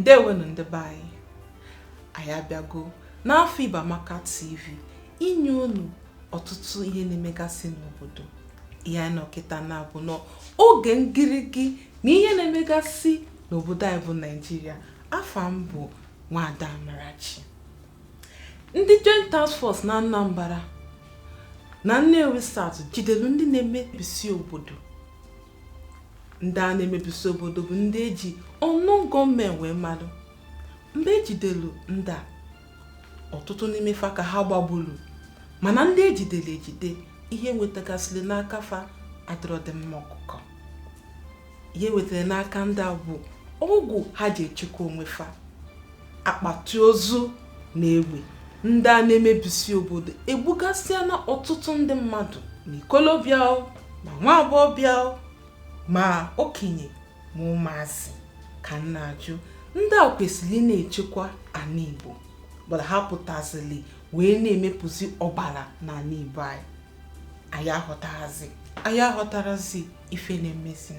ndewenu ndị be anyị anyị abịago n'afọ Igbo Amaka TV inye unu ọtụtụ ihe na-emegasị n'obodo ihe anyị nọkịta na-abụ n'oge ngirigi na ihe na-emegasị n'obodo anyị bụ naijiria afa m bụ nwada amarachi ndị joint task force na anambra na nnewi south jidelu ndị na-emebisi obodo ndị a na-emebisi obodo bụ ndị eji unknown gunmen wee malụ mgbe ejidelu ndị a ọtụtụ n'ime fa ka ha gbagburu mana ndị ejidere ejide ihe e nwetagasịrị n'aka fa adịrọdị mma ọkụkọ ihe e wetara n'aka ndị a bụ ọgwụ ha ji echekwa onwe fa akpati ozu na egbe ndị a na-emebisi obodo egbugasịana ọtụtụ ndị mmadụ na ikolobịa ma nwa agbọghọbịa ma okenye ma ụmụazị ka m na-ajụ ndị a kwesịrị ị na-echekwa anị Igbo bụlụ ha pụtazili wee na-emepụzi ọbala n'anị Igbo anyị anyị aghọtarọzi anyị aghọtarọzi ife na-emezi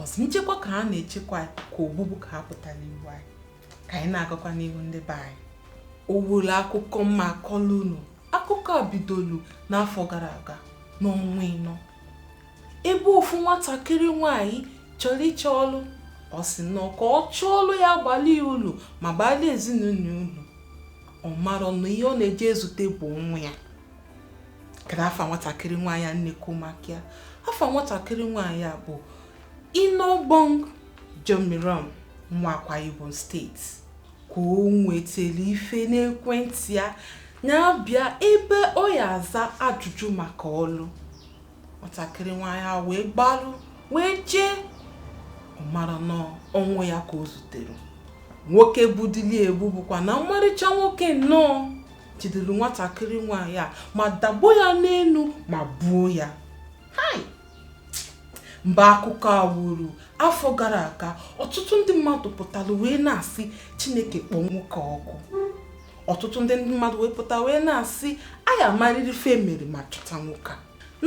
ọzọ nchekwa ka ha na-echekwa anyị ka ogbugbu ka ha pụtara igbu anyị ka anyị na-agakwa n'ihu ndị be anyị ọ bụrụ akụkọ m ma akọla unu akụkọ a bidolu n'afọ gara aga n'ọnwa ịnọ ebe ofu nwatakịrị nwanyị chọrọ ịchọ ọlụ ọ sị na ka ọ chọọ ọlụ ya abalị ya ulu ma balị ezinụlọ ulu ọ marọ na ihe ọ na-eje ezute bụ ọnwụ ya kedu afa nwatakịrị nwaanyị a m na-ekwu maka ya afa nwatakịrị nwaanyị a bụ Iniubong Umoren nwa Akwa Ibom state ka o nwetara ife n'ekwentị ya na bịa ebe ọ ya aza ajụjụ maka ọlụ nwatakịrị nwaanyị a wee gbalụ wee jee ọ marọ na ọnwụ ya ka o zutere nwoke gbudili egbu bụkwa na mmarịcha nwoke nnọọ jidere nwatakịrị nwaanyị a ma dakpo ya n'elu ma gbuo ya mgbe akụkọ a wuru afọ gara aga ọtụtụ ndị mmadụ pụtara wee na-asị chineke kpọọ nwoke a ọkụ ọtụtụ ndị mmadụ wee pụta wee na-asị a ya amarịrị ife mere ma chọta nwoke a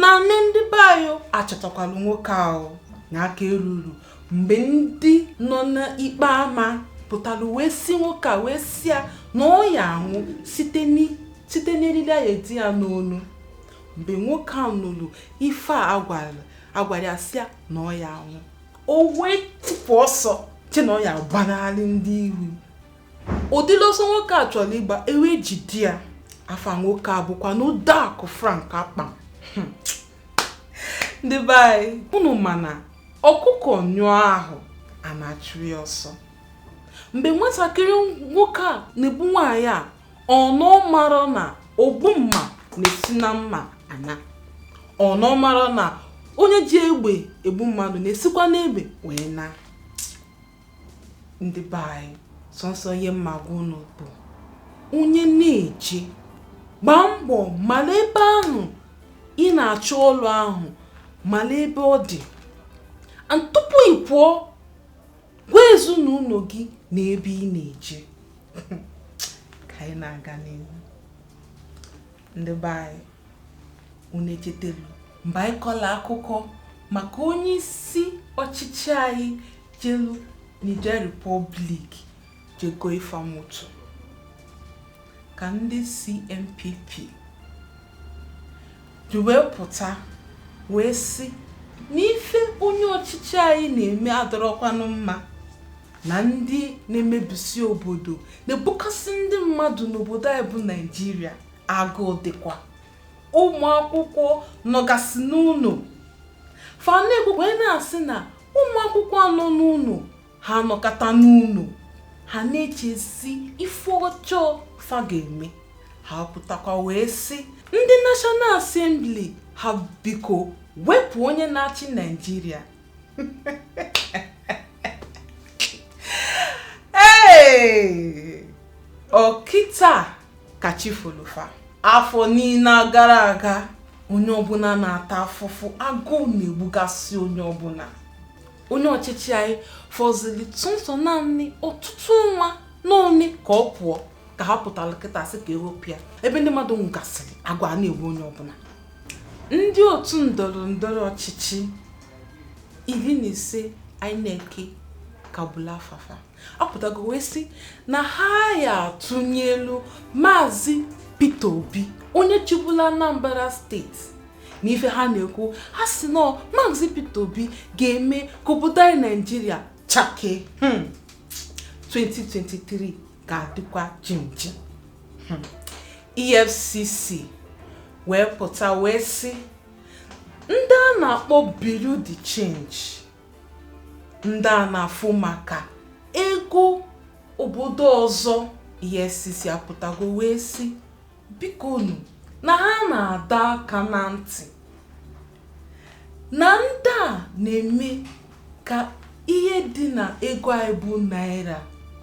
na nne ndị be anyị achọtakwala nwoke ahụ na aka eru uru mgbe ndị nọ n'ikpe ama pụtara wee sị nwoke a wee sị ya na ọ ya anwụ site n'eriri a ya edi ya n'onu mgbe nwoke a nụrụ ife a a gwara ya sị ya na ọ ya anwụ o wee tipu ọsọ che na ọ ya agbanarị ndị iwu ụdịlị ọsọ nwoke a chọrọ ịgba e wee jide ya afa nwoke a bụkwanụ Uduak Frank Akpan. ndị be anyị unu ma na ọkụkọ nyụọ ahụ ana achụ ya ọsọ mgbe nwatakịrị nwoke a na-egbu nwaanyị a ọnụ mara na ogbu mma na-esi na mma ana ọnụ mara na onye ji egbe egbu mmadụ na-esikwa n'egbe wee na ndị be anyị sọnsọ ihe m ma-agwa unu bụ onye na-eje gbaa mbọ mara ebe ahụ ị na-achọ ọrụ ahụ mara ebe ọ dị and tupu ị pụọ gwa ezinụlọ gị na ebe ị na-eje ka anyị na-aga n'ihu ndị be anyị unu echetelu mgbe anyị kọlụ akụkọ maka onye isi ọchịchị anyị jelu Niger Republic je gooli fa moto ka ndị CNPP ji wee pụta wee sị na ife onye ọchịchị anyị na-eme adọrọkwanụ mma na ndị na-emebisi obodo na-egbugasị ndị mmadụ n'obodo anyị bụ naijiria agụụ dịkwa ụmụ akwụkwọ nọgasị n'ụnọ fa na-ekwu wee na-asị na ụmụ akwụkwọ a nọ n'ụnọ ha nọkata n'ụnọ ha na-echezi ife ọjọọ fa ga-eme ha pụtakwa wee sị ndị National Assembly ha biko wepụ onye na-achị Naịjirịa ọ kịta ka chi folu fa afọ niile gara aga onye ọbụla na-ata afụfụ agụụ na-egbugasị onye ọbụla onye ọchịchị anyị fọzili sọnsọ naanị ọtụtụ ọnwa na one ka ọ pụọ ka ha pụtara kịta sị ka e wepụ ya ebe ndị mmadụ nwụgasịrị agụụ ana-egbu onye ọbụla Ndị otu ndọrọ ndọrọ ọchịchị iri na ise INEC kagburu afa fa apụtago wee sị na ha ya atụnyelu maazị Peter Obi onye chịbulu Anambra steeti na ife ha na-ekwu ha sị na maazị Peter Obi ga-eme ka obodo anyị Naijiria chake 2023 ga-adịkwa jimjim EFCC wee pụta wee sị ndị a na-akpọ bureau de change ndị a na-afụ maka ego obodo ọzọ EFCC apụtago wee sị bikonu na ha na-adọ aka na ntị na ndị a na-eme ka ihe dị na ego anyị bụ naira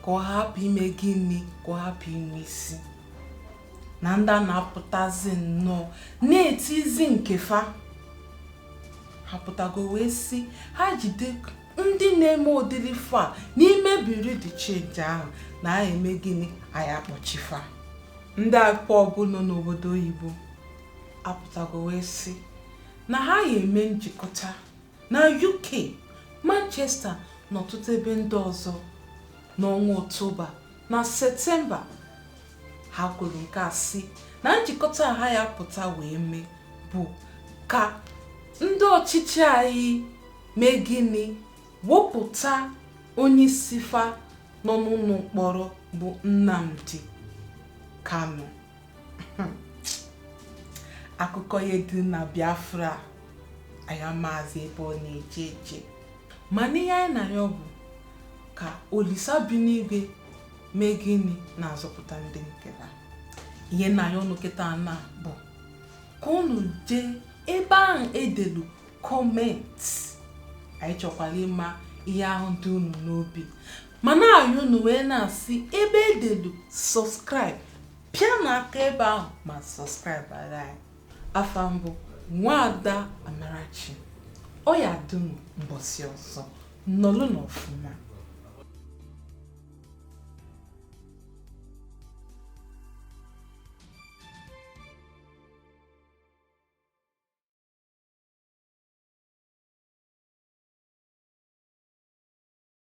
ka ọ hapụ ime gịnị ka ọ hapụ inwe isi na ndị a na-apụtazi nnọọ na-etizi nke fa ha pụtago wee sị ha jide ndị na-eme ụdịrị fa n'ime bureau de change ahụ na a ya eme gịnị a ya akpọchi fa ndị IPOB nọ n'obodo oyibo apụtago wee sị na ha ya eme njikọta na UK Manchester na ọtụtụ ebe ndị ọzọ n'ọnwa Ọktoba na Septemba ha kwuru nke a sị na njikọta ha ya apụta wee mee bụ ka ndị ọchịchị anyị mee gịnị wepụta onye isi fa nọ n'ụlọ mkpọrọ bụ Nnamdi Kanu akụkọ ihe dị na biafra anyị amazị ebe ọ na-eje eje mana ihe anyị na-ayọ bụ ka olisa bi n'igwe mee gịnị na-azọpụta ndị nke ya ihe m na-ayọ unu kịta na bụ ka unu jee ebe ahụ e delu comment anyị chọkwara ịma ihe ahụ dị unu n'obi ma na-ayọ unu wee na-asị ebe e delu subscribe pịanụ aka ebe ahụ ma subscribe ara anyị afa m bụ nwaada amarachi ọ ya dum mbọsị ọzọ nọlụnụ ọfụma